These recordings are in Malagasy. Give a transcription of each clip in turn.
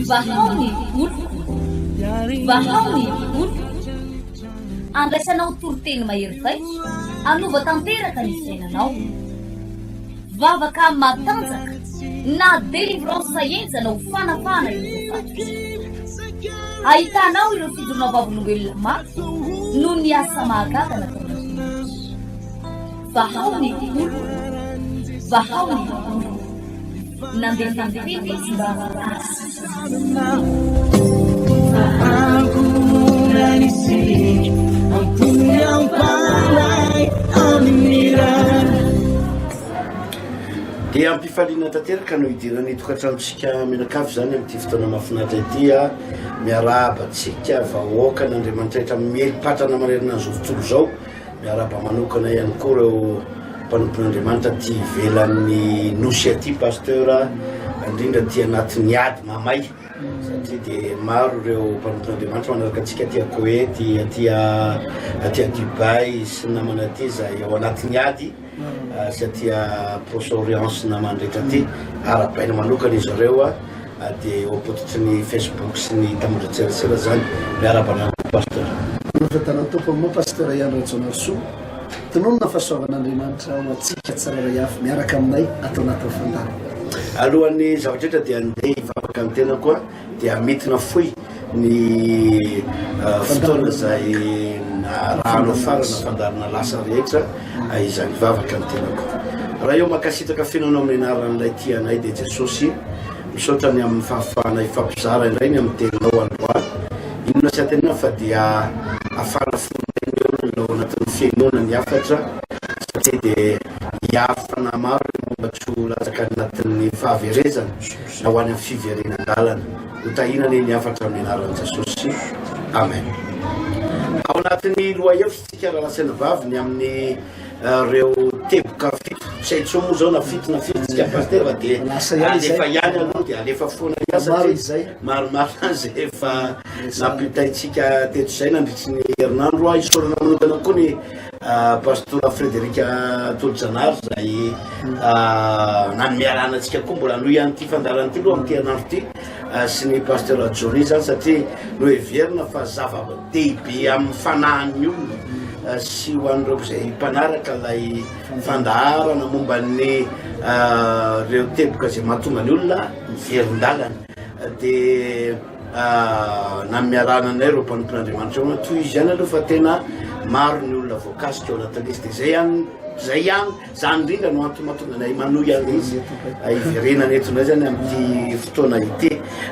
Vahao ny voliko, vahao ny voliko. Andraisanao toriteny mahery vaika, hanova tanteraka ny fiainanao. Vavaka matanjaka na délivrance henjana ho fanapahana ireo voafaty. Ahitanao ireo fidronao vavolombelona mafy noho ny asa mahagaga nataonareo. Vahao ny volo, vahao ny volo. Nandefa ny tena izy mba hahasintona antsika. Dia am-pifaliana tanteraka no hidirana ity tokantranontsika mianakavy izany amin'ity fotoana mahafinaritra ity. Miarahaba antsika vahoakan'Andriamanitra rehetra mieli-patrana manerana izao tontolo izao. Miarahaba manokana ihany koa ireo mpanompon'Andriamanitra aty ivelan'ny nosy aty pasteur, indrindra aty anatin'ny ady mamay satria dia maro ireo mpanompon'Andriamanitra manaraka antsika aty Koety, aty aty Dubai sy ny namana aty izay ao anatin'ny ady. satria proche-orience na mandritra aty arahabaina manokana izy ireo dia eo ampototry ny Facebook sy ny tambajotserasera zany miarahaba anareo pasteur Mbola fahitana Tompo aminao Pasteur Ihany Rajaonarisoa Tononina fa soavan'Andriamanitra ho antsika tsirairay avy miaraka aminay ato anatin'ny fandaharana. Alohan'ny zava-drehetra dia andeha hivavaka ny tenako a. dia mety nafoy ny fotoana izay arahana fara na fandaharana lasa rehetra izany vavaka ny tenako. Raha eo mankasitraka feno anao amin'ny anaran'ilay tia anay dia Jesosy. Misaotra ny amin'ny fahafahanay hifampizara indray ny amin'ny teninao androany. Inona sy antenaina fa dia hafana fo indray ny olona ao anatin'ny fihenoana ny hafatra satria dia hiaro fanahy maro ireo mba tsy ho latsaka any anatin'ny fahaverezana. na ho any amin'ny fiverenan-dalana. Ho tahiana anie ny hafatra amin'ny anaran'i Jesosy. Amen. Ao anatin'ny lohahevitritsika rahalahy sy anabavy ny amin'ny eh, reo teboka fito. Tsy hay intsony moa zao na fito na firy tsika pasteur fa dia Lasa ihany izay. alefa ihany aloha dia alefa foana ny asa Maromaro satria izay. maromaro izay efa nampitaintsika teto izay nandritry ny herinandro. Isaorana manokana koa ny Pastora Frederic Tolojanahary izay nanome alàna antsika koa mbola hanohy an'ity fandaharana ity aloha amin'ity herinandro ity sy ny Pastora Johnny izany satria noheverina fa zava-dehibe amin'ny fanahin'ny olona sy ho an'ireo izay mpanaraka ilay fandaharana momba ny ireo teboka izay mahatonga ny olona miverin-dalana dia nanome alàna anay ireo mpanompo Andriamanitra eo toy izy ihany aloha fa tena maro ny olona voakasika ao anatin'ny izy dia zay ihany zay ihany zany indrindra no antony mahatonga anay manohy an'i izy hiverenana eto indray zany amin'ity fotoana ity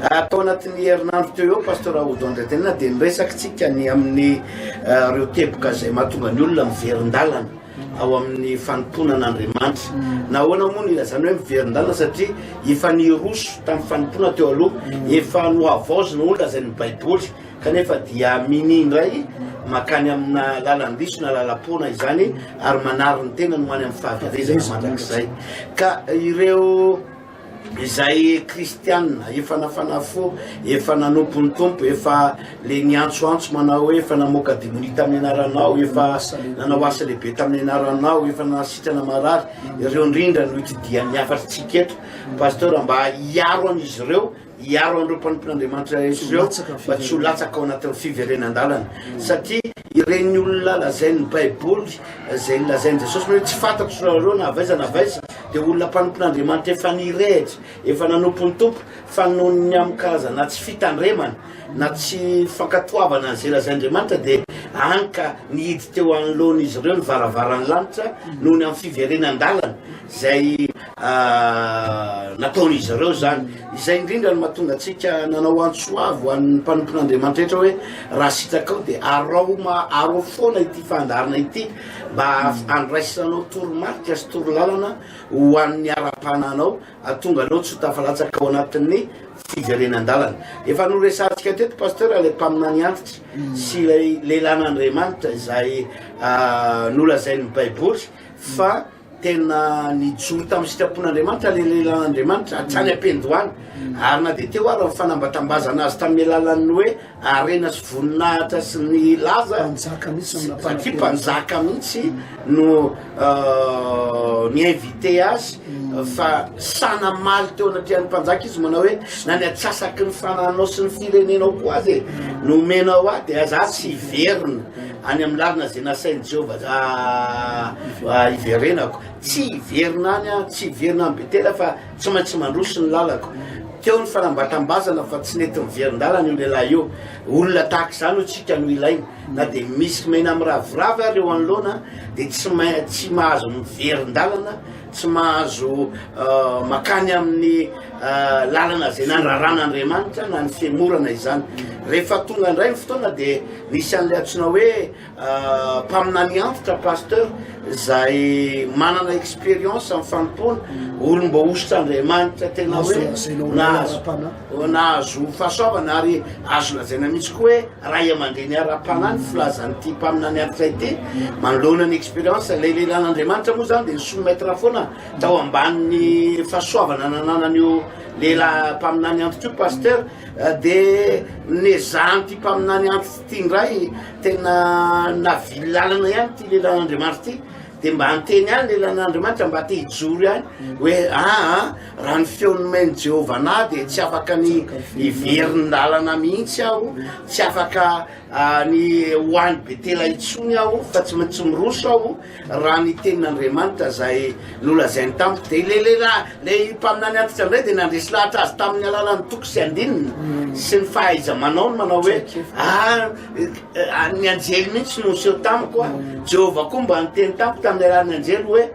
atao anatin'ny herinandro teo eo pasteur Aodo Andriantenina dia niresakitsika ny amin'ny ireo teboka izay mahatonga ny olona miverin-dalana ao amin'ny fanompoana an'Andriamanitra. Nahoana moa no ilazana hoe miverin-dalana? Satria efa niroso tamin'ny fanompoana teo aloha, efa nohavaozina hoy ny lazain'ny Baiboly, kanefa dia minia indray mankany amina lalan-diso na lalam-poana izany ary manary ny tenany ho any amin'ny fahaverezana mandrakizay. Ka ireo Izay kristiana efa nafana fo, efa nanompo ny Tompo, efa le niantsoantso manao hoe efa namoaka demonia tamin'ny anaranao, efa nanao asa lehibe tamin'ny anaranao, efa nanasitrana marary, ireo indrindra no itidian'ny hafatr'tsika eto. Pasteur mba hiaro an'izy ireo Hiaro an'ireo mpanompon'Andriamanitra Jesosy ireo mba tsy ho latsaka ao anatin'ny fiverenan-dalana. Satria ireny olona lazain'ny Baiboly, izay lazain'i Jesosy hoe tsy fantatro ry zareo na avy aiza na avy aiza, dia olona mpanompon'Andriamanitra efa nirehitra, efa nanompo ny Tompo, fa noho ny amin-karazana na tsy fitandremana na tsy fankatoavana an'izay lazain'Andriamanitra dia hany ka nihidy teo anoloan'izy ireo ny varavaran'ny lanitra noho ny amin'ny fiverenan-dalana izay nataon'izy ireo izany. Izay indrindra no mahatonga antsika nanao antso avo ho an'ny mpanompon'Andriamanitra rehetra hoe raha sitraka dia araoma arao foana ity fandaharana ity mba handraisanao toromarika sy torolalana ho an'ny ara-panahinao atonga anao tsy ho tafalatsaka ao anatin'ny fiverenan-dalana. Efa noresahantsika teto pasteur ilay mpaminany antitra mm. sy ilay lehilan'Andriamanitra izay nolazain'ny Baiboly fa Tena nijoro tamin'ny sitrapon'Andriamanitra ilay lehilahin'Andriamanitra hatrany am-piandohana, ary na dia teo ary ny fanambatambazana azy tamin'ny alalan'ny hoe harena sy voninahitra sy ny laza, satria mpanjaka mihitsy no ni-inviter azy, fa sahy namaly teo anatrehan'ny mpanjaka izy manao hoe, na ny antsasaky ny fanananao sy ny firenenao koa aza e, no omenao ahy, dia za tsy hiverina. Any amin'ny lalana izay nasain'i Jehovah hiverenako. Tsy hiverina any aho, tsy hiverina any Betela fa tsy maintsy mandroso ny lalako. Teo ny fanambatambazana fa tsy nety niverin-dalana io lehilahy io. Olona tahaka izany hoy isika no ilaina. Na dia misy maina miraviravy ary eo anoloana dia tsy mahazo miverin-dalana Tsy mahazo makany amin'ny lalana izay nandraran'Andriamanitra na ny fihemorana izany. Rehefa tonga indray ny fotoana dia nisy an'ilay antsoina hoe mpaminany antitra, pasteur, izay manana expérience amin'ny fanompoana, olom-boahosotr'Andriamanitra tena hoe nahazo. Olona azo fahasoavana ary azo lazaina mihitsy koa hoe ray aman-dreny ara-panahy ny filazan'ity mpaminany antitra ity manoloana ny expérience. Ilay lehilahin'Andriamanitra moa izany dia ny soumettre foana tao ambanin'ny fahasoavana nananan'io lehilahy mpaminany antitra io, Pasteur. Dia nezahan'ity mpaminany antitra ity indray, tena navily lalana ihany ity lehilahin'Andriamanitra ity, dia mba niteny ihany ny lehilahin'Andriamanitra mba te hijoro ihany hoe aa. Raha ny feo nomen'i Jehovah anah dia tsy afaka ny hiverin-dalana mihitsy aho, tsy afaka ah, ny ho any Betela intsony aho, fa tsy maintsy miroso aho raha ny tenin'Andriamanitra izay nolazainy tamiko. Dia ilay lehilahy, ilay mpaminany antitra indray dia nandresy lahatra azy tamin'ny alalan'ny toko sy andininy sy ny fahaiza-manaony manao hoe, Ah, eh, ah, ny anjely mihitsy no niseho tamiko, ah. Jehovah koa mba niteny tamiko tamin'ny alalan'ny anjely hoe,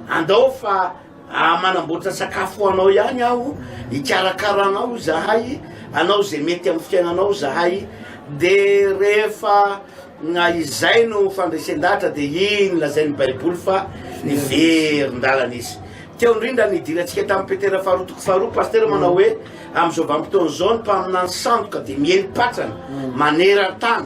Andao fa Raha manamboatra sakafo ho anao ihany aho, hikarakara anao izahay, anao izay mety amin'ny fiainanao izahay, dia rehefa na izay no fandresen-dahatra dia iny lazain'ny Baiboly fa niverin-dalana izy. Teo indrindra ny idirantsika tamin'i Petera faharoa toko faharoa, pasitera manao hoe amin'izao vanim-potoana izao ny mpaminany sandoka dia miely patrana maneran-tany.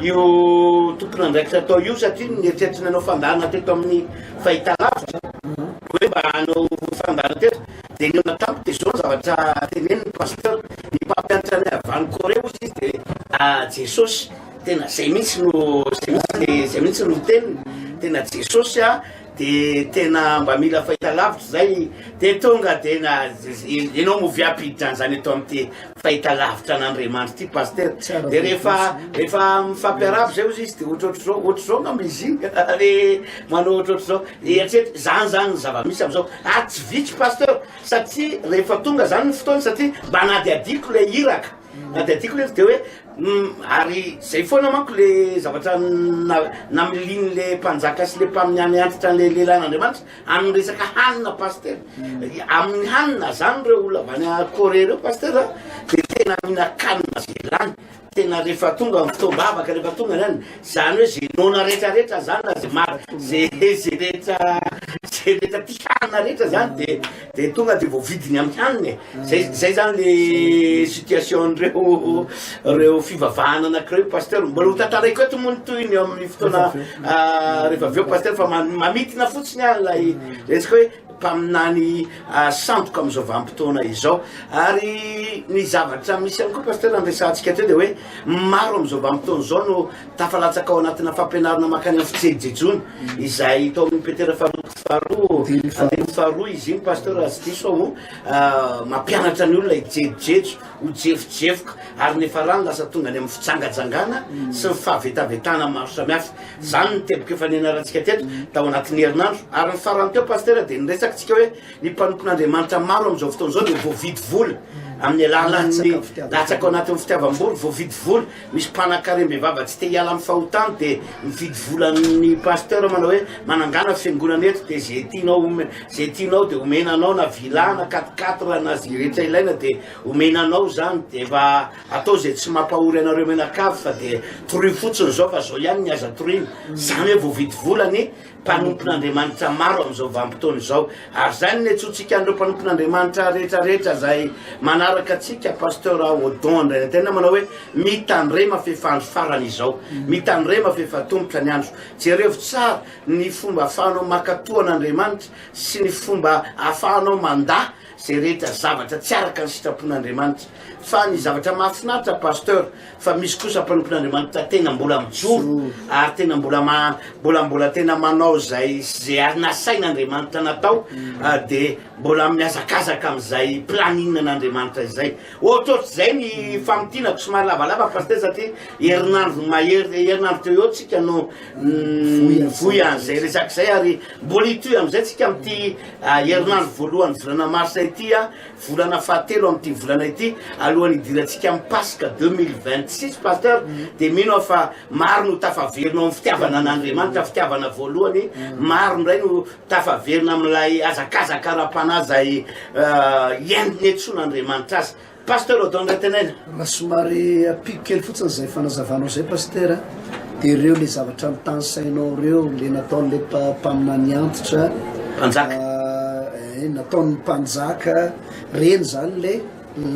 io tompon'andraikitra atao io satria ny eritreritra nanao fandaharana teto amin'ny fahitalavitra hoe mba hanao fandaharana teto dia ny olona tampoka dia izao ny zavatra teneniny ny pasteur ny mpampianatra ny avy any Corée hozy izy dia ah Jesosy tena izay mihitsy no izay mihitsy dia izay mihitsy no teniny tena Jesosy ah de tena mba mila fahita lavitra zay de tonga de na enao mo viapiditra anzany eto amty fahita lavitra an'Andriamanitra ty pasteur de refa refa mifampiarahaba zay ozy izy de ohatrohatry zao ohatry zao ngamba izy iny le manao ohatrohatry zao de atreto zany zany ny zavamisy amzao ary tsy vitsy pasteur satria refa tonga zany ny fotoana satria mba anadiadiko le iraka Na dia adikony aza dia hoe ary zay foana manko le zavatra namiliany le mpanjaka sy le mpamin'ny any antitra an'le lehilahin'Andriamanitra amin'ny resaka hanina pasteur amin'ny hanina zany reo olona avy any Corée reo pasteur de tena mihinan-kanina ze lany tena rehefa tonga amin'ny fotoam-bavaka rehefa tonga zany zany hoe ze noana rehetra rehetra zany na ze maro ze ze rehetra ze rehetra ty hanina rehetra zany de Dia tonga dia voavidiny amin'ny hanina e. Zay, zay zany le situation-n'ireo ireo fivavahana anankiray pasteur. Mbola ho tantaraiko eto moa ny tohiny eo amin'ny fotoana ah, rehefa avy eo pasteur fa ma- mamintina fotsiny aho ilay resaka hoe mpaminany ah, sandoka amin'izao vanim-potoana izao. Ary ny zavatra misy ihany koa pasteur andresantsika teo dia hoe maro amin'izao vanim-potoana izao no tafalatsaka ao anatina fampianarana mankany amin'ny fijejejona izay tao amin'ny Petera faharoa Faharoa, andininy faharoa izy iny Pasteur raha tsy diso aho, mampianatra ny olona hijejojejo, ho jefojefoka, ary ny farany lasa tonga any amin'ny fijangajangana sy ny fahavetavetana maro samihafa. Izany ny teboka efa nianarantsika teto tao anatin'ny herinandro. Ary ny farany teo Pasteur dia niresakitsika hoe ny mpanompon'Andriamanitra maro amin'izao fotoana izao dia voavidy vola amin'ny alalan'ny latsaka ao anatin'ny fitiavam-bola, voavidy vola Misy mpanakarem bevava tsy te hiala amin'ny fahotany dia mifidy vola amin'ny pasteur manao hoe manangana fiangonana eto dia ze tianao ome ze tianao dia omena anao na villa na quatre quatre na ze rehetra ilaina dia omena anao zany dia efa atao ze tsy mampahory anareo mianakavy fa dia torio fotsiny zao fa zao ihany ny aza toriana zany hoe voavidy vola ny mpanompon'Andriamanitra maro amin'izao vanim-potoana izao. Ary izay no niantsoantsika an'ireo mpanompon'Andriamanitra rehetra rehetra izay manaraka antsika, Pasteur Odon indray ny tena manao hoe mitandrema f'efa andro farany izao, mitandrema f'efa tomotra ny andro. Jerevo tsara ny fomba ahafahanao makatoa an'Andriamanitra sy ny fomba ahafahanao mandà Zay rehetra zavatra tsy araka ny sitrapon'Andriamanitra. Fa ny zavatra mahafinaritra Pasteur fa misy kosa mpanompon'Andriamanitra tena mbola mijoro ary tena mbola ma mbola mbola tena manao izay ze ary nasain'Andriamanitra natao de mbola mihazakazaka amin'izay planning n'Andriamanitra izay. Ohatrohatr'izay ny famintinako somary lavalava Pasteur satria herinandro mahery herinandro teo eo tsika no nivoy an'izay resaka izay ary mbola hitohy amin'izay tsika amin'ity Herinandro voalohan'ny volana marsa ity, volana fahatelo amin'ity volana ity, alohan'ny hidirantsika amin'ny Paska deux mille vingt six Pasteur, dia mino aho fa maro no tafaverina ao amin'ny fitiavana an'Andriamanitra, fitiavana voalohany, maro indray no tafaverina amin'ilay hazakazaka ara-panahy izay hiaingon'ny hetsoan'Andriamanitra azy. Pasteur Odon ndray teneno. Raha somary ampiko kely fotsiny izay fanazavanao izay Pasteur a, dia ireo le zavatra notanisainao ireo, le nataon'ilay mpa- mpaminany antitra, Mpanjaka. ah, eh, nataon'ny mpanjaka, ireny zany le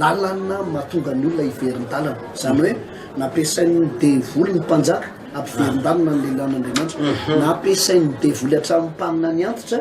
lalana mahatonga ny olona hiverin-dalana. Izany hoe nampiasain'ny devoly ny mpanjaka hampiverin-dalana ny lehilahin'Andriamanitra, nampiasain'ny devoly hatramin'ny mpaminany antitra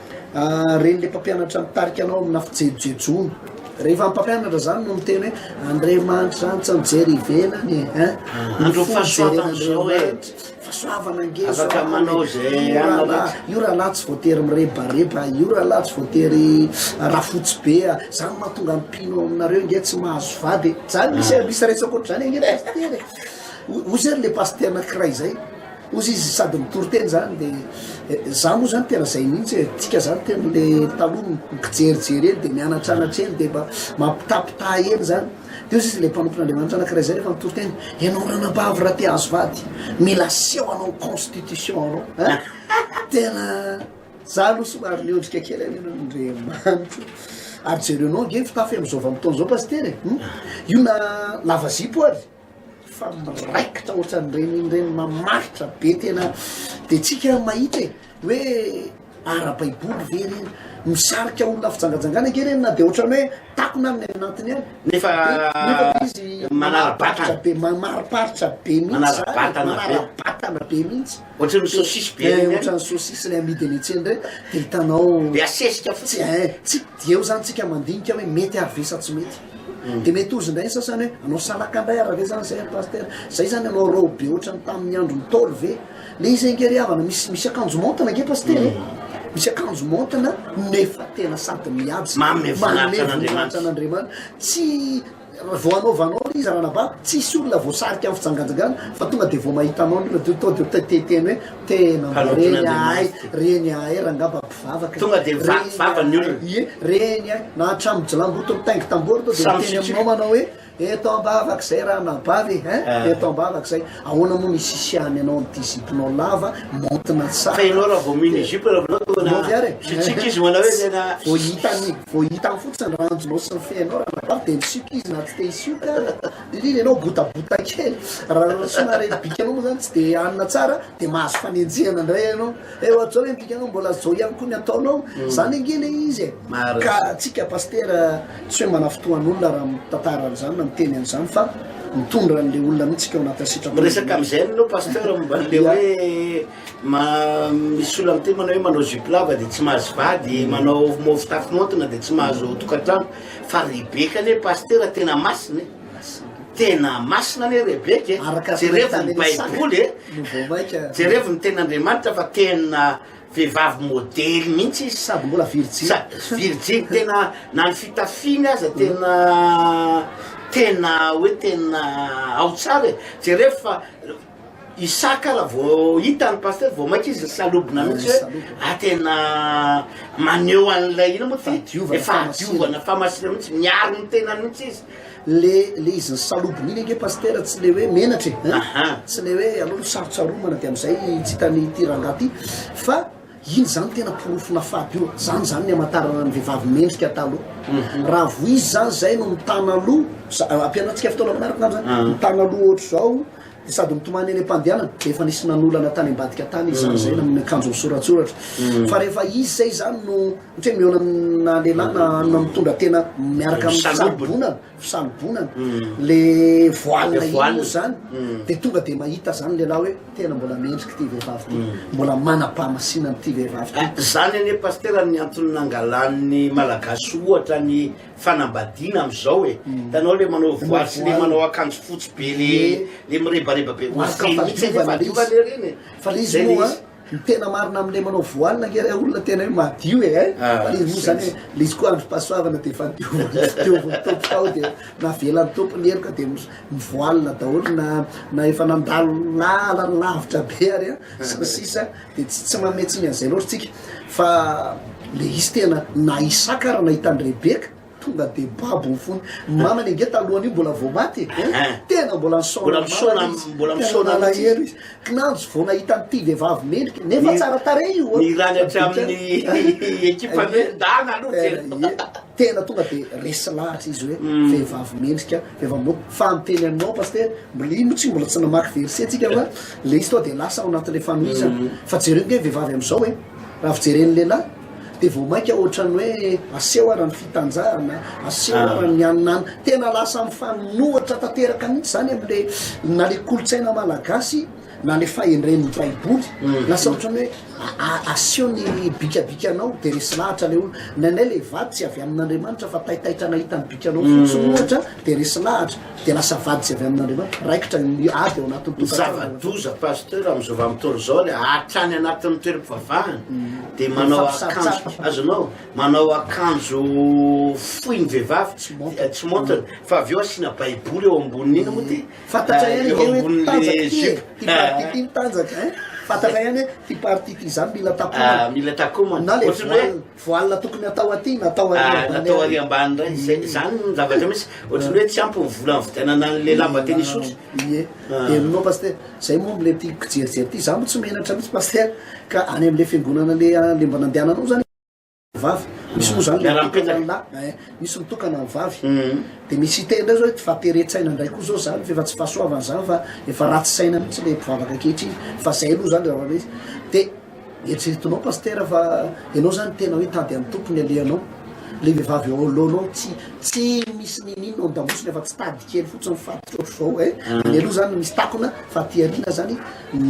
Ren'ilay mpampianatra mitarika anao amina fijejojejoana. Rehefa ny mpampianatra izany no miteny hoe Andriamanitra izany tsy mijery ivelany e, hein? Ah, Ny fo fijeren'Andriamanitra. Eh. Fahasoavana ange izao. Afaka manao izay anao. Io rahalahy tsy voatery mirebareba, io rahalahy tsy voatery rafotsy be, izany mahatonga ny mpino ao aminareo nge tsy mahazo vady e. Izany misy ah. misy resaka ohatr'izany ange pasitera e. Hoy izany le pasitera anankiray izay. Ozy izy sady mitory teny zany de za moa zany tena zay mihitsy e, tsika zany tena le taloha mikijerijery eny de mianatranatra eny de mba mampitapita eny zany de ozy izy le mpanompon'Andriamanitra anakiray zay rehefa mitory teny ianao ranabavy raha te azo vady mila aseho anao constitution anao a tena za aloha somary miondrika kely any ianao Andriamanitra ary jerenao ange fitafy am'zao vanim-potoana zao pasitera e io na lava zipo ary fa miraikitra ohatrany renireny mamaritra be tena de tsika mahita e hoe arabaiboly ve reny misarika olona fijangajangana ake reny na de ohatrany hoe takona aminy any anatiny any nefa izy manarabatana be mamariparitra be mihitsy manarabatana be mihitsy Ohatran'ny saucisse be regny eh, ohatran'ny saucisse ilay amidy eny an-tsena ireny dia hitanao be asesika fotsiny eh, eh, tsy dia eo zany tsika mandinika hoe mety ary ve sa tsy mety hmm. dia mety ozy indray ny sasany hoe anao salaka indray ary ve zany zay pasteur zay zany anao rao be ohatran'ny tamin'ny andro ny taolo ve le izay ngery havana misy misy akanjo montina ge pasteur eh? hmm. misy akanjo montina nefa tena sady miady mamevonahitranaandriamanitra tsy Vao anaovanao le izy ranaba tsisy olona voasarika am fijangajangana fa tonga de vao mahita anao ndrindra de to de teteny hoe tena mba reny ahay reny ahay rangah mba mpivavaka Tonga de vaky vava ny olona. Ie reny ahay na hatramin'ny jilambotony mitaingy tamboho ary to de Samy miteny aminao manao hoe eto ambavak'izay ranaba ve hein eto ambavak'izay Ahoana moa no isisiahany anao amin'ity ziponao lava maontina tsara. Ka ianao raha vao mino izipo raha vao tonga Ianao ve ary e? Sitsiaka izy manao hoe tena. Vao hitany vao hitany fotsiny ny ranjonao sy ny fehinao ranabavy dia misioka izy na tsy te hisioka ary. Indrindra ianao botabota kely. Raha somary ilay bikanao moa izany tsy dia hanina tsara dia mahazo fanenjehana indray ianao. Eo ato izao ilay ny bikanao mbola izao ihany koa ny ataonao. Izany ange ilay izy e. Marina. Ka tsika Pasitera. Tsy hoe manafintohan'olona raha mitantara an'izany na miteny an'izany fa mitondra an'ilay olona mihitsy tsika ao anatin'ny sitrapon'ny Lalàna. Miresaka amin'izay ianao Pasteur momba an'ilay hoe ma misy olona miteny manao hoe manao jupe lava dia tsy mahazo vady, manao manao fitafy maontina dia tsy mahazo tokantrano fa Rebeka anie Pasteur tena masina e! tena masina anie Rebeka e! Araka ny jerevy ny Baiboly e! no vao maika. Jerevy ny tenin'Andriamanitra fa tena. Vehivavy modely mihitsy izy sady mbola virjiny. Sady virjiny tena na ny fitafiny aza tena tena hoe tena ao tsara e. Jereo fa Isaka raha vao hita ny pasitera vao mainka izy nisalobona mihitsy hoe ah tena maneho an'ilay inona moa ty? Efa hadiovana, fahamasinana mihitsy, miaro ny tenany mihitsy izy. Le le izy ny salobony iny ange Pasitera tsy le hoe menatra e hein, tsy le hoe anao no sarotsaromana de amizay tsy hitany ity rangahy ty fa iny zany tena porofona fady io, zany zany ny amatarana ny vehivavy mendrika taloha, raha vo izy zany zay no mitana loha, ampianarintsika fotoana manaraka angamba zany, mitana loha ohatr'izao. dia sady mitomany eny am-pandehanana dia efa nisy nanolana tany ambadika tany izy zany zay na amin'ny akanjo misoratsoratra fa rehefa izy zay zany no ohatra hoe mihaona amina lehilahy na na mitondra tena miaraka amin'ny fisalobonana fisalobonana le voile iny moa zany dia tonga dia mahita zany ny lehilahy hoe tena mbola mendrika ity vehivavy ity mbola manam-pahamasinana ity vehivavy ity zany anie pasitera ny antony nangalan'ny malagasy ohatra ny Fanambadiana amizao e, hitanao le manao voile sy le manao akanjo fotsy be le le mirebareba be Marque ny fahadiovana ilay izy. fahadiovana ery ny e. Fa le izy moa an, ny tena marina amle manao voile ange le olona tena hoe madio e ein! Fa le izy moa zany hoe le izy koa androm-pahasoavana de efa dioviny sy dioviny Tompo tao de navelan'ny Tompo ny heloka de mi voile daholo na na efa nandalo lalana lavitra be ary an sy ny sisa. Dia tsy tsy manome tsiny an'izay loatra tsika fa le izy tena na Isaka ary nahita an'i Rebeka tonga dia babo ny fony. Ny mamany ange talohan'io mbola vao maty e. Eh, Ahem. Tena mbola nisaona Mbola ny misaona- mamany izy. mbola Tena misaona mihitsy. nalahelo izy. Kinanjo vao nahita an'ity vehivavy mendrika nefa Ny- tsara tarehy io. a. ny rany avy amin'ny ekipan'ny hoe ndana aloha Eh, tena. eh, Tena tonga dia resy lahatra izy hoe Mm. vehivavy mendrika, vehivavy mendrika. Fa ny teny aminao pasitera, mbola ino tsy mbola tsy namaky verset tsika fa Ilay izy tonga dia lasa ao anatin'ilay fanohizana. Fa jereo ny vehivavy amin'izao e! Raha fijeren'ny lehilahy dia vao mainka ohatran'ny hoe aseho ara ny fitanjahana, aseho ara ny an'nany. Tena lasa mifanohitra tanteraka mihitsy izany amin'ilay na ilay kolontsaina malagasy na ilay fahendren'ny baiboly. Lasa ohatran'ny hoe aseho ny bikabikanao dia resy lahatra ilay olona. Ny anay ilay vady tsy avy amin'Andriamanitra fa taitaitra nahita ny bikanao fotsiny ohatra dia resy lahatra. Dia lasa vady tsy avy amin'Andriamanitra, raikitra ny ady ao anatin'ny tokantrano. Ny zava-doza Pasteur amin'izao vanim-potoana izao ilay hatrany anatin'ny toeram-pivavahana dia manao akanjo, azonao? Manao akanjo fohy ny vehivavy, tsy montre, fa avy eo asiana baiboly eo ambonin'iny moa ty, Fantatra ihany eo ambonin'ilay jupe. Ity partie ity no tanjaka ein! Fantatra ihany hoe ity partie ity izany mila takomana. Mila takomana. Na ilay voile. Voile tokony atao aty na atao ary ambany ary. Natao ary ambany indray. Izay izany ny zavatra misy. Ohatran'ny hoe tsy ampy ny vola nividianana an'ilay lamba tennis ours. Ie. Helinao Pasteur. Izay moa ilay tiako kijerijery ity. Izaho moa tsy menatra mihitsy Pasteur ka any amin'ilay fiangonana le le mba nandehananao zany vavy. Misy moa zany le mitokana ny lahy. Ein. Misy mitokana ny vavy. Dia misy hiteny indray zao hoe fa teren-tsaina indray koa izao izany f'efa tsy fahasoavana izany fa efa ratsy saina mihitsy ilay mpivavaka ankehitriny. Fa izay aloha izany raha hoe izy. Dia. Eritreretinao Pasitera fa ianao zany tena hoe tady an'i Tompo ny alehanao, le vehivavy eo anoloanao tsy tsy misy niniana ao an-damosiny afa-tsy tady kely fotsiny faty ohatr'izao eh, any aloha zany misy takona fa aty aoriana zany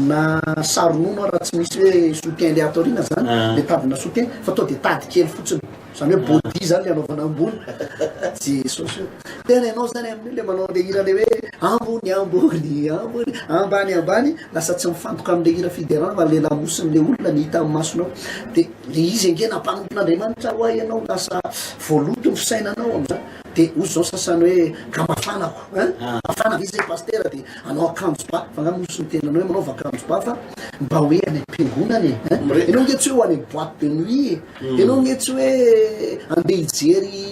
na saro-nono ary raha tsy misy hoe soutien le ato aoriana zany le tady na soutien fa tonga de tady kely fotsiny. Zany hoe body zany le anaovana ambony Jesosy o! Tena ianao zany amin'io le manao an'le hira le hoe ambony ambony ambony ambany ambany lasa tsy mifantoka am'le hira fiderana fa le lamosin'le olona ny hita am'masonao de le izy ange nampanompon'Andriamanitra ho ahy ianao lasa voaloto ny fisainanao am'zany de ozy zao sasany hoe ka mafanako ein mafanako izy zay pastera de anao akanjo ba fa nga nosy ny tenanao hoe manaova akanjo ba fa mba hoe any am-piangonana e ein ianao ange tsy hoe ho any am' boite de nuit e. Ianao anie tsy hoe andeha hijery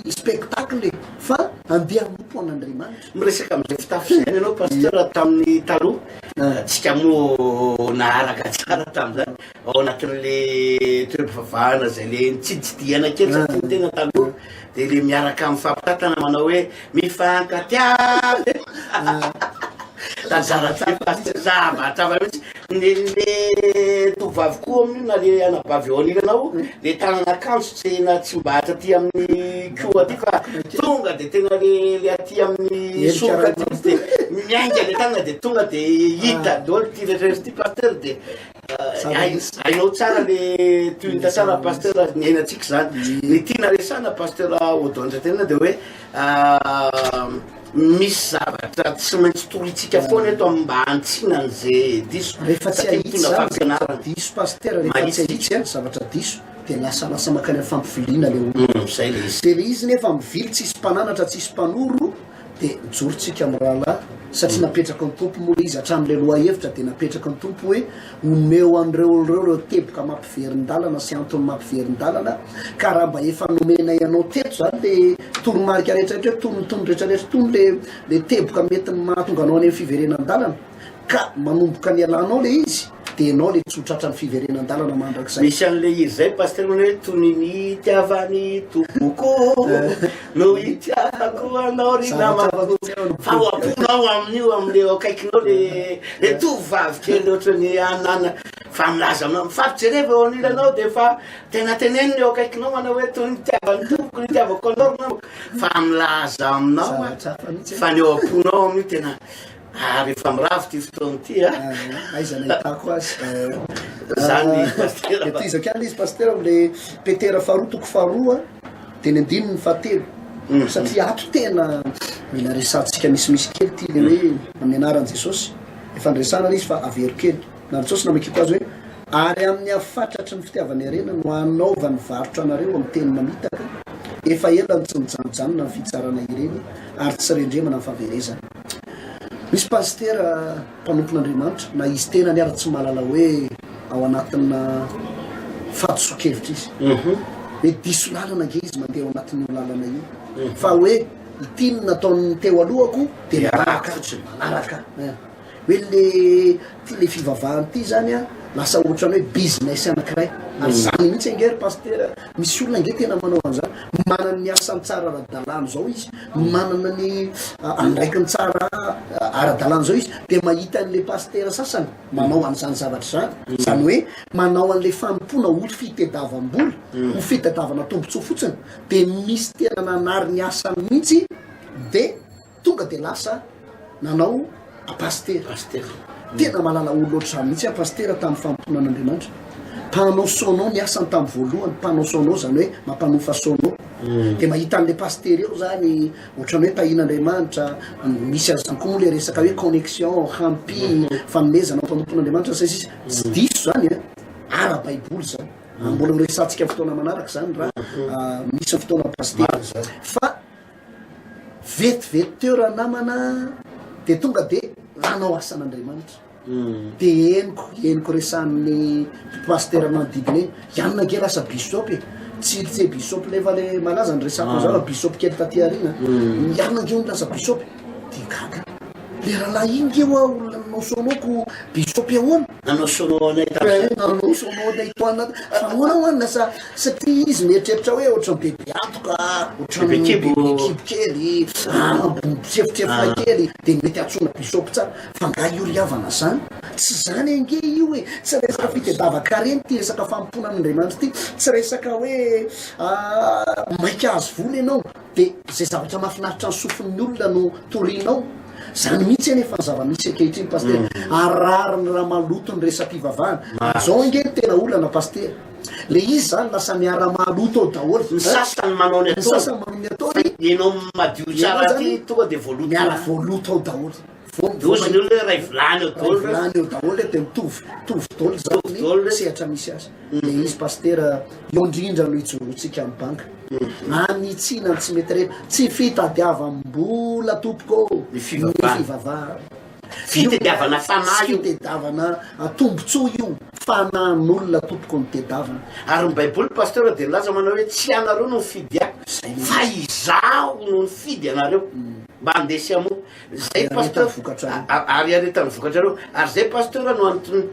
spectacle e, fa andeha hanompo an'Andriamanitra. Miresaka amin'izay fitafy izay ianao Pasteur tamin'ny taloha, ah. tsika moa naharaka tsara tamin'izany ao anatin'ilay toeram-pivavahana izay le nitsiditsidihana kely satria ny tena taloha Dia le miaraka mifampitantana manao hoe mifankatiavy Tany Zaratsarka aza tsy za mba hatrava mihitsy ny le tovovavy koa amin'io na le anabavy eo anilanao le tanana akanjo tsy na tsy mba hatraty amin'ny ko aty fa tonga de tena le le aty amin'ny soroka aty mihitsy de miainga le tanana de tonga de hita daholo ity rehetra rehetra ity pasteur de Hainao tsara le tohinta tsara pasteur ny ainantsika zany ny tiana resana pasteur Odon Andriantenina de hoe misy zavatra tsy maintsy toritsika foana eto amin'ny mba hantsinany ze diso rehefa tsy ahitona fampianarana diso pasteur rehefa tsy ahitsy zavatra diso de lasalasa makany amin'ny fampiviliana le olona zay le izy de le izy nefa mivily tsisy mpananatra tsisy mpanoro Dia mijoro tsika amin'ny rahalahy satria napetrakao ny Tompo moa le izy hatramin'ilay lohahevitra dia napetraka ny Tompo hoe omeo an'ireo olon'ireo ireo teboka mampiverin-dalana sy antony mampiverin-dalana ka raha mba efa nomenay anao teto izany le toromarika rehetrarehetra hoe tony ny tony rehetrarehetra tony le le teboka mety mahatonga anao any amin'ny fiverenan-dalana ka manomboka nialanao le izy Dia enao le tsy ho tratra ny fiverenan-dalana mandrakizay. Misy an'ilay hira izay Pasitera manao hoe toy ny nitiavan'i Tompoko no hitiavako anao ry namako. Fa ao am-ponao amin'io amin'ilay eo akaikinao le le tovovavy kely ohatry ny anana fa milaza aminao mifampijereva eo anilanao dia efa tena teneniny eo akaikinao manao hoe toy ny nitiavan'i Tompoko no hitiavako anao ry namako fa milaza aminao fa ny eo am-ponao amin'io tena Ary efa mirava ity fotoana ity a! Aiza no ahitako azy? Zany i Pasitera. Dia tohizako ihany izy Pasitera amin'ilay Petera faharoa toko faharoa teny andininy fahatelo. Satria ato tena mila resahantsika misimisy kely ity ilay hoe amin'ny anaran'i Jesosy. Efa niresahana ilay izy fa avero kely. Na ny Jesosy namakiko azy hoe, Ary amin'ny hafatratry ny fitiavany harena no hanaovany varotra anareo amin'ny teny mamitaka, efa ela no tsy nijanojanona ny fitsarana ireny ary tsy rendremana ny fahaverezany. Misy pasitera mpanompon'Andriamanitra na izy tenany ara tsy mahalala hoe ao anatina fahadisoan-kevitra izy. Mety diso lalana ange izy mandeha ao anatin'io lalana io. Fa hoe ity no nataon'ny teo alohako dia manaraka fotsiny. Manaraka. Hoe le ty le fivavahana ty zany lasa ohatran'ny hoe business anankiray. Ary zany mihitsy ange ry pasitera. Misy olona ange tena manao an'izany, manana ny asany tsara ara-dalàna izao izy, manana ny andraikiny tsara ara-dalàna izao izy, dia mahita an'ilay pasitera sasany manao an'izany zavatra izany, izany hoe manao an'ilay fanompoana ho fitediavam-bola, ho fitadiavana tombontsoa fotsiny, dia misy tena nanary ny asany mihitsy dia Tonga dia lasa nanao a pasitera azy teto. Tena malala olona ohatr'izany mihitsy a pasitera tamin'ny fanompoana an'Andriamanitra. Mpanao sono ny asany tamin'ny voalohany, mpanao sono izany hoe mampanofa sono. Dia mahita an'ilay pasitera eo izany ohatran'ny hoe tahiana Andriamanitra, misy an'izany koa moa ilay resaka hoe connexion, hampi, fanomezana amin'ny fanompoana Andriamanitra sy ny sisa. Tsy diso izany a, ara baiboly izany. Mbola ho resahantsika fotoana manaraka izany raha misy fotoana pasitera. Fa. Vetivety teo ranamana dia tonga dia nanao asan'Andriamanitra. Dia henoko, henoko resahan'ny pasitera manodidina eny, ianona ange lasa bisôpy e! Tsy tsy bisôpy lefa le malaza no resahako an'izao raha bisôpy kely taty aoriana an! Ianona ange hono lasa bisôpy? Dia gaga aho. Le rahalahy iny nge ho'a olona nanaosoa anao ko bisôpy ahoana? Nanao sono anay tamin'izay. Nanao sono anay toana. Ahoana ho'a ny nasaha? Satria izy mieritreritra hoe ohatran'ny bebe antoka, ohatran'ny bebe kibo kely, bobo sefotsefoka kely, dia ny mety antsoina bisôpy tsara. Fa nga io ry havana izany? Tsy izany ange io e! Tsy resaka fitedava-karena ity resaka fanompoana an'Andriamanitra ity. Tsy resaka hoe maika hahazo vola ianao. Dia izay zavatra mahafinaritra ny sofin'ny olona no torianao? Izany mihitsy anefa ny zava-misy ankehitriny Pasitera, ary rariny raha maloto ny resa-pivavahana. Izao ange no tena olana Pasitera, le izy izany lasa miara-mahaloto ao daholo. Ny sasany manao ny ataony, fa ianao madio tsara aty tonga dia voaloto. Miara-voaloto ao daholo. Voaozona eo le ray vilany eo dolo. Ray vilany eo daholo dia mitovy mitovy dolo zany sehatra misy azy. Mm. Dia izy pasitera eo indrindra no ijoroantsika amin'ny banka. Mm. Anitsiana tsy mety rehetra. Tsy fitadiavam-bola tompoko ô. Ny fivavahana. Fitadiavana fanahy io. Fitadiavana atombotsoa io. Fanahin'olona tompoko ny tedavana. Ary ny baiboly pasitera dia nilaza manao hoe tsy ianareo no nifidy ahy fa izaho no nifidy anareo. Mm. Mba handesy amoa. Zay pasteur, ary hiaretany ny vokatrareo, ary zay pasteur no antony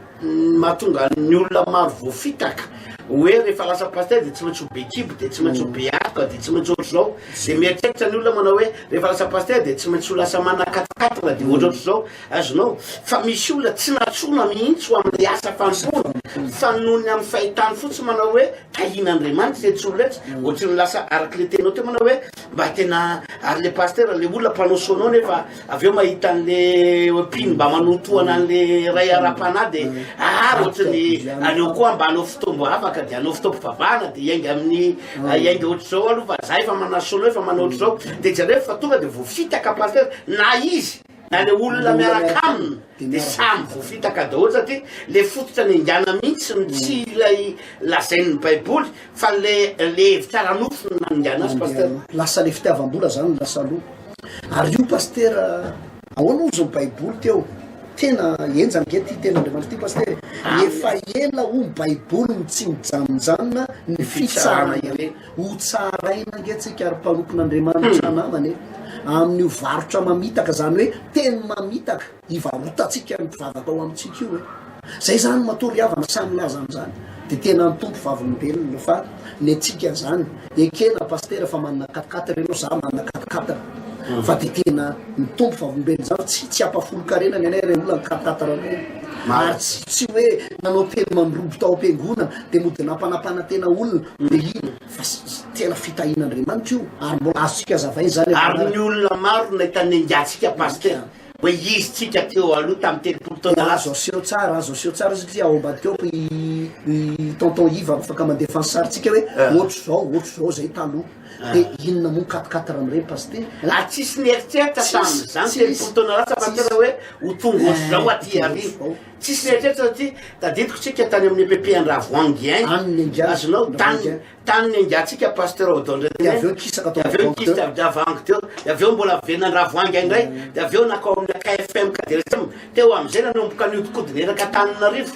mahatonga ny olona maro voafitaka, oe refa lasa pasteur de tsy maintsy ho be kibo, de tsy maintsy ho be atoka, de tsy maintsy ohatr'izao, de mieritreritra ny olona manao oe refa lasa pasteur de tsy maintsy ho lasa manakatokatona de ohatraohatr'izao, azonao, fa misy olona tsy natsoina mihitsy ho amle asa fanompoana, fa noho ny amin'ny fahitany fotsiny manao oe tahian'Andriamanitra iretsy olona iretsy, ohatry ny lasa arak'le teninao teo manao oe, Mba tena ary le pasteur le olona mpanao sono nefa avy eo mahita an'le mpino mba manotohana an'le ray ara-panahy de ah ohatry ny aleo koa mba hanao fotoambo avaka de hanao fotoam-pivavahana de hiainga amin'ny ah, hiainga ohatr'izao aloha fa zahay efa manao sono efa manao ohatr'izao de jereo fa tonga de voafitaka pasteur na izy Na le olona miaraka aminy de samy voafitaka daholo satria le fototra niaingana mihitsy no tsy ilay lazain'ny baiboly fa le le hevitra ara-nofo no naningana azy pasteur. Lasa le fitiavam-bola zany lasa aloha. Ary io Pasteur ahoana ozy ny baiboly teo? Tena henjana ange ty ten'Andriamanitra ty Pasteur e! Efa ela hoy ny baiboly no tsy mijanonjanona ny fitsarana ireny. Ho tsaraina ange tsika ry mpanompon' Andriamanitra namana e, amin'io varotra mamitaka, izany hoe teny mamitaka ivarotantsika ny mpivavaka ao amintsika io e. Izay izany matoa ry havana sahy milaza an'izany dia tena ny Tompo Vavolombelona fa ny antsika izany ekena Pasitera fa manana quatre quatre ianao za manana quatre quatre fa dia tena ny Tompo Vavolombelona izany fa tsy tsy hampafolon-karena ny anay reola ny quatre quatre anao ary tsy tsy hoe nanao teny mandrobo tao am-piangonana dia mody nampanampanantena olona Marihina fa tena fitahian'Andriamanitra io ary mbola azontsika azavaina izany eto Ary ny olona maro nahita ny angatsika Pasteur hoe izy tsika teo aloha tamin'ny telopolo taona lasa. Azo aseho tsara, azo aseho tsara satria ao ambadika ao i i tonton Iva afaka mandefa ny sarintsika hoe ohatr'izao, ohatr'izao izay taloha. Dia inona moa ny quatre quatre amin'ireny Pasitera? Ary tsisy nieritreritra tamin'izany telopolo taona lasa Pasitera hoe ho tonga ohatr'izao aty aoriana. Tsisy mieritreritra satria tadidiko tsika tany amin'ny EPP Andravoahangy any. Tany nenga. Azonao tany tany nengantsika Pasteur Odon Dia René. avy eo kisaka tao Avy eo Andravoahangy teo. nikisitra Andravoahangy teo. Dia avy eo mbola miverina Andravoahangy any indray. Dia avy eo nankao amina KFM Kaderasem. Teo amin'izay nanomboka nihodinkodina eraka Antananarivo.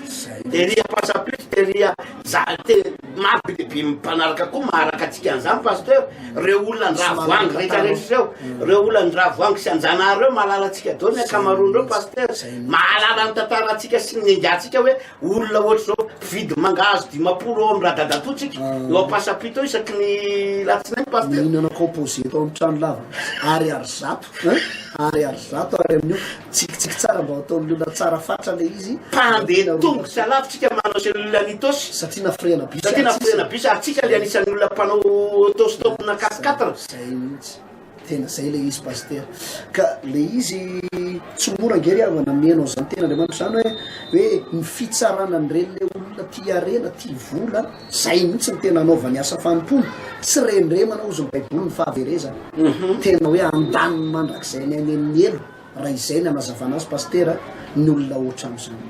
Tery ampasampito, tery a. Za te maro be dia be mpanaraka koa maharaka antsika an'izany Pasteur, reo olona an-dRaha voangy rehetra rehetra reo, reo olona an-dRaha voangy sy an-Janahary reo mahalala antsika daholo ny ankamaroany reo Pasteur, mahalala ny tantara antsika sy ny nenga antsika hoe olona ohatry zao mpividy mangahazo dimampolo ao am Radadatou tsika eo Ampasapito eo isaky ny latsinainy Pasteur. Mihinana composé eto am trano lava Ariary zato hein Ariary zato Ary amin'io Tsikitsiky tsara mba ho taon'ny olona tsara fatra le izy. Mpandeha tongotra lavitrika manao izay olona ny Tos. Satria nafirehana bus ary tsisy. Ary tsika le anisan'ny olona mpanao auto stop na quatre quatre. Zay mihitsy. Tena zay le izy Pasitera. Ka le izy tsy mora ange ry havana hameno an'izany ten'Andriamanitra izany hoe hoe ny fitsarana an'ireny le olona tia harena, tia vola. Zay mihitsy no tena anaovany asa fanompoana. Tsy rendremana hozy ny Baiboly ny fahaverezana. Tena hoe andaniny mandrakizay ny ainy amin'ny helo. raha izay ny hanazavana azy Pasitera, ny olona hoatrany izany.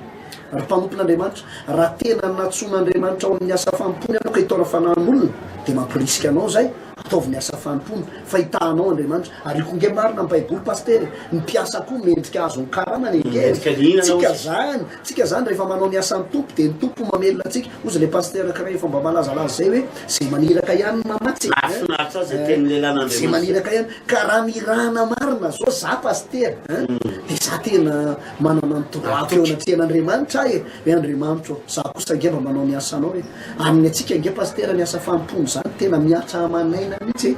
Ry mpanompon'Andriamanitra, raha tena nantsoin'Andriamanitra ao amin'ny asa fanompoany ianao ka hitaona fanahin'olona, dia mampirisika anao izay, ataovy ny asa fanompoana, fa hitahanao Andriamanitra. Ary io koa ange marina amin'ny Baiboly Pasitera e! Ny mpiasa koa mendrika azon'ny karamany ange e! Tsika izany, tsika izany rehefa manao ny asan'ny Tompo dia ny Tompo mamelona antsika. Ozy le pasteur ankiray efa mba malazalaza zay hoe ze maniraka ihany no mamatsy e! Nahafinaritra aho zay tenin'lelan'Andriamanitra. Ze maniraka ihany, ka raha mirahana marina zao za pasitera an, de za tena manana ny tomboko eo anatrehan'Andriamanitra aho e! hoe Andriamanitra ô, za kosa ange mba manao ny asanao e! Aminy antsika ange pasitera ny asa fanompoana zany tena mihatra aman'aina mihitsy e!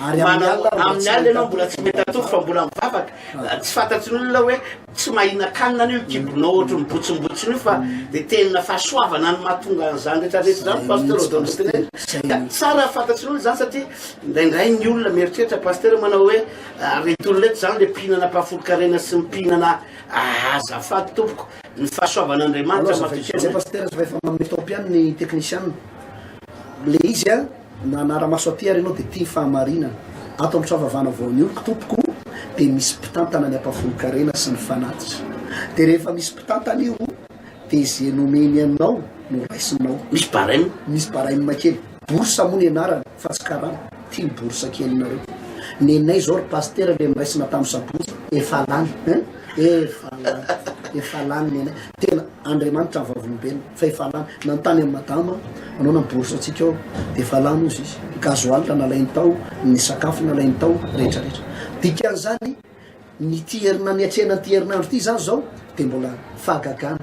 Ary amin'ny Manao- alina aho mbola amin'ny tsy alina ianao mbola tsy mahita mahita atody fa mbola mivavaka tsy fantatry ny olona hoe tsy mahinakanina anio io kibonao ohatry ny botsombotsiny io fa de tena fahasoavana no mahatonga an'izany rehetra rehetra izany pasteur Odon Lutinen ka tsara fantatry ny olona izany satria indraindray ny olona mieritreritra pasteur manao hoe ah, reto olona reto izany le mpihinana mpahafolon-karena sy ny mpihinana ah, azafady tompoko ny fahasoavan'Andriamanitra Allo, azafady kely zay matoa pasteur fa efa manome temps-piany ny technician. Le izy an, Nanara-maso aty ary ianao dia tia ny fahamarinana. Ato amin'ny Trafavana Voanio, ry tompoko, dia misy mpitantana ny ampahafolon-karena sy ny fanatitra. Dia rehefa misy mpitantana io, dia izay nomeny anao no raisinao. Misy barème? Misy barème kely. Bourse moa ny anarany, fa tsy karama. Ity ny bourse kelinareo. Nenay izao, ry Pasitera, ilay noraisina tamin'ny sabotsy, efa lany. Efa lany. Efa lany nenay. Tena, Andriamanitra ny Vavolombelona. Fa efa lany nanontany an'i madama anao na bourse antsika ao dia efa lany hozy izy. Ny gasoil nalainy tao, ny sakafo nalainy tao, rehetra rehetra. Dikan'izany n'ity herina niatrehana an'ity herinandro ity izany izao dia mbola fahagagana,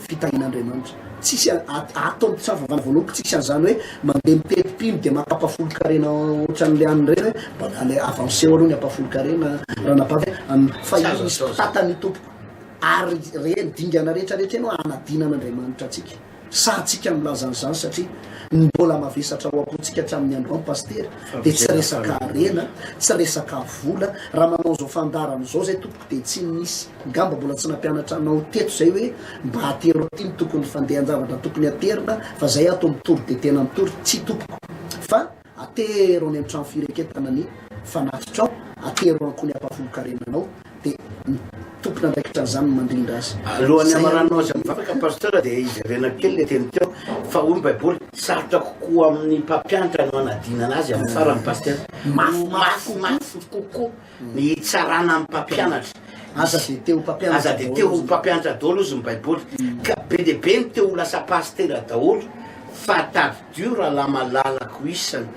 fitahian'Andriamanitra. Tsisy ato amin'ny mpisava vanavoanoko tsisy an'izany hoe mandeha mitety mpino dia maka ampahafolon-karena ohatran'ilay any ireny hoe mbola ale avanceo aloha ny ampahafolon-karena ranabavy a, fa io misy mpitata ny tompoko. Ary re ny dingana rehetra rehetra eny hoa anadina an'Andriamanitra antsika. Sahantsika milaza an'izany satria ny mbola mavesatra ao am-pontsika hatramin'ny androany Pasitera dia tsy resaka harena, tsy resaka vola, raha manao izao fandaharana izao izay tompoko dia tsy nisy ngamba mbola tsy nampianatra anao teto izay hoe mba atero aty ny tokony fandehan-javatra tokony aterina fa izay ato mitory dia tena mitory, tsia tompoko fa. Atero any an-trano fireketana ny fanatitrao, atero an-ko ny ampahafolon-karena anao, dia ny tompon'andraikitra an'izany no mandrindra azy. Alohan'ny hamarananao izay mivavaka Pasteur dia ijerena kely ilay teny teo fa hoy ny baiboly sarotra kokoa amin'ny mpampianatra no hanadinana azy amin'ny farany Pasteur. Mafy mafy kokoa. Ny hitsarana amin'ny mpampianatra. Aza dia te ho mpampianatra daholo. Aza dia te ho mpampianatra daholo izy ny Baiboly. Ka be dia be ny te ho lasa pasitera daholo fa tadidio rahalahy malalako isany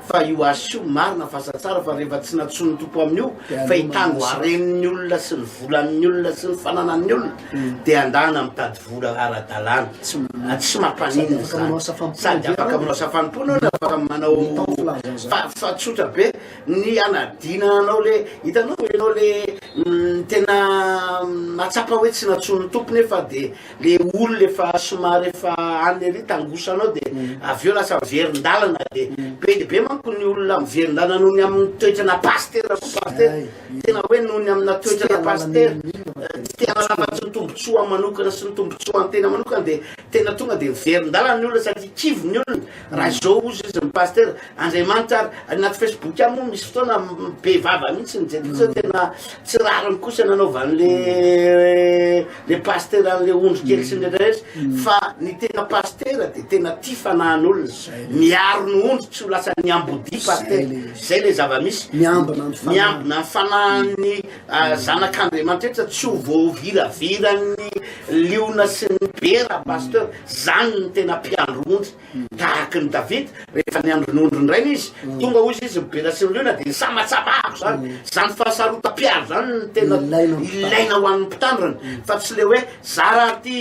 fa io asa io marina fa asa tsara fa rehefa tsy nantsoin'ny Tompo amin'io fa hitany ho haren'ny olona sy ny volan'ny olona sy ny fananan'ny olona hmm. dia andana mitady vola ara-dalàna. Tsy mampaninona izany. Sady afaka manao safanim-pony olona afaka manao fa tsotra be Ny hanadina anao le, hitanao ve enao le tena mahatsapa hoe tsy nantsoin'ny Tompo nefa de le olona efa somary efa any ery tangosanao de avy eo lasa miverin-dalana de be de be manko ny olona miverin-dalana noho ny amin'ny toetrana pasitera koa pasitera tena hoe noho ny amina toetrana pasitera tsy te hanala afa-tsy ny tombontsoa manokana sy ny tombontsoa an-tena manokana de tena tonga de miverin-dalana ny olona satria kivy ny olona raha izao ozy izy ny pasitera Andriamanitra ary anaty Facebook ihany moa misy fotoana be vava mihitsy ny jejo satria tena tsy rariny kosa nanaovan'le le pastera an'le ondry kely sy ny rehetra rehetra fa ny tena pastera dia tena tia fanahin'olona miaro ny ondry tsy ho lasa ny ambodi pastera zay le zava-misy Miambina ny fanahy. miambina ny fanahin'ny ah, zanak'Andriamanitra rehetra tsy ho voaviraviran'ny liona sy ny bera pasteur zany ny tena mpiandry ondry Ndahaky ny Davida, rehefa niandry ny ondriny rainy izy, tonga hoy izy ny bera sy ny liona dia nisamatsabahako izany. Izany fahasarotam-piaro izany no tena ilaina ho an'ny mpitandrina, fa tsy ilay hoe za raha ty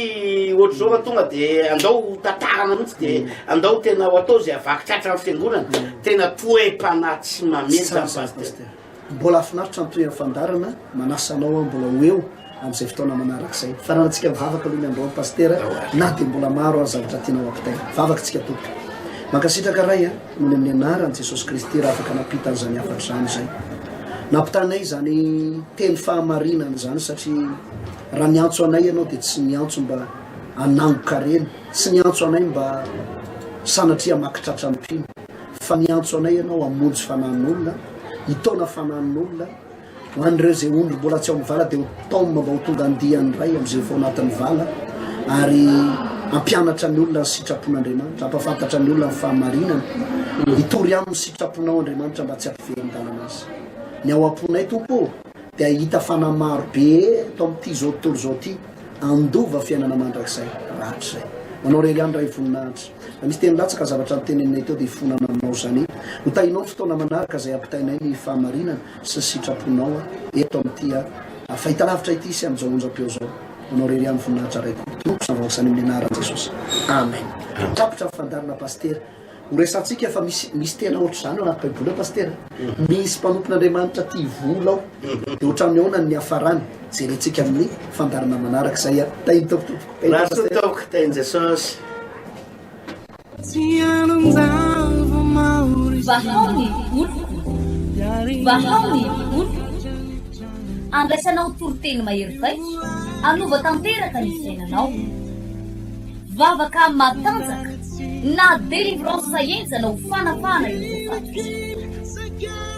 ohatr'izao raha tonga dia andao ho tatarana mihitsy dia andao tena ho atao izay havaky tratra ny fiangonana. Tena toe-panahy tsy mamely izany Pasitera. Mbola hafinaritra ny tohiny fandarana manasa anao aho mbola ho eo amin'izay fotoana manaraka izay fanarantsika mivavaka aloha ny androany pastera na dia mbola maro ary zavatra tianao ampitaina vavaka tsika tompoko mankasitraka ray a nony amin'ny anarany jesosy kristy raha afaka nampita an'izany hafatra izany izay nampitanay izany teny fahamarinana izany satria raha niantso anay ianao dia tsy niantso mba anangokareny tsy niantso anay mba sanatria makitratra ampiana fa miantso anay ianao hamonjy fanahin'olona, hitaona fanahin'olona, ho an'ireo izay ondry mbola tsy ao amin'ny vala dia ho taomina mba ho tonga andiany indray amin'izay vao anatin'ny vala, ary hampianatra ny olona ny sitrapon'Andriamanitra, hampahafantatra ny olona ny fahamarinana, hitory aminy ny sitraponao Andriamanitra mba tsy hampiverin-dalana azy ny ao am-ponay Tompo ô, dia hahita fanahy maro be eto amin'ity izao tontolo izao ity, handova fiainana mandrakizay rahatrizay. Ho anao irery ihany Ray voninahitra. Misy teny latsaka zavatra noteneninay teo dia ifonana aminao izany. Hotahinao ny fotoana manaraka izay hampitainay ny fahamarinana sy ny sitraponao eto amin'ity fahitalavitra ity sy amin'izao onjam-peo izao. Ho anao irery ihany ny voninahitra Raiko, Tompoko sy Vahoaka Samy amin'ny anaran'i Jesosy. Amen. Tapitra ny fandaharana Pasitera. Ho resahantsika fa misy misy tena ohatr'izany ao anaty baiboly ao Pasitera. Misy mpanompon'Andriamanitra tia vola ao. Dia ohatran'ny ahoana ny niafarany? Jerentsika amin'ny fandaharana manaraka izay. Tahin'ny Tompo tompoko. Rasoa tompoko teny Jesosy. Vahao ny oloko, vahao ny oloko, andraisanao toriteny mahery vaika, hanova tanteraka ny fiainanao. Vavaka matanjaka na délivrance henjana ho fanapahana ireo voafaty.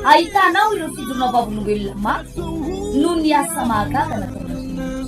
Ahitanao ireo fidronam-vavolombelona mafy noho ny asa mahagaga nataonareo.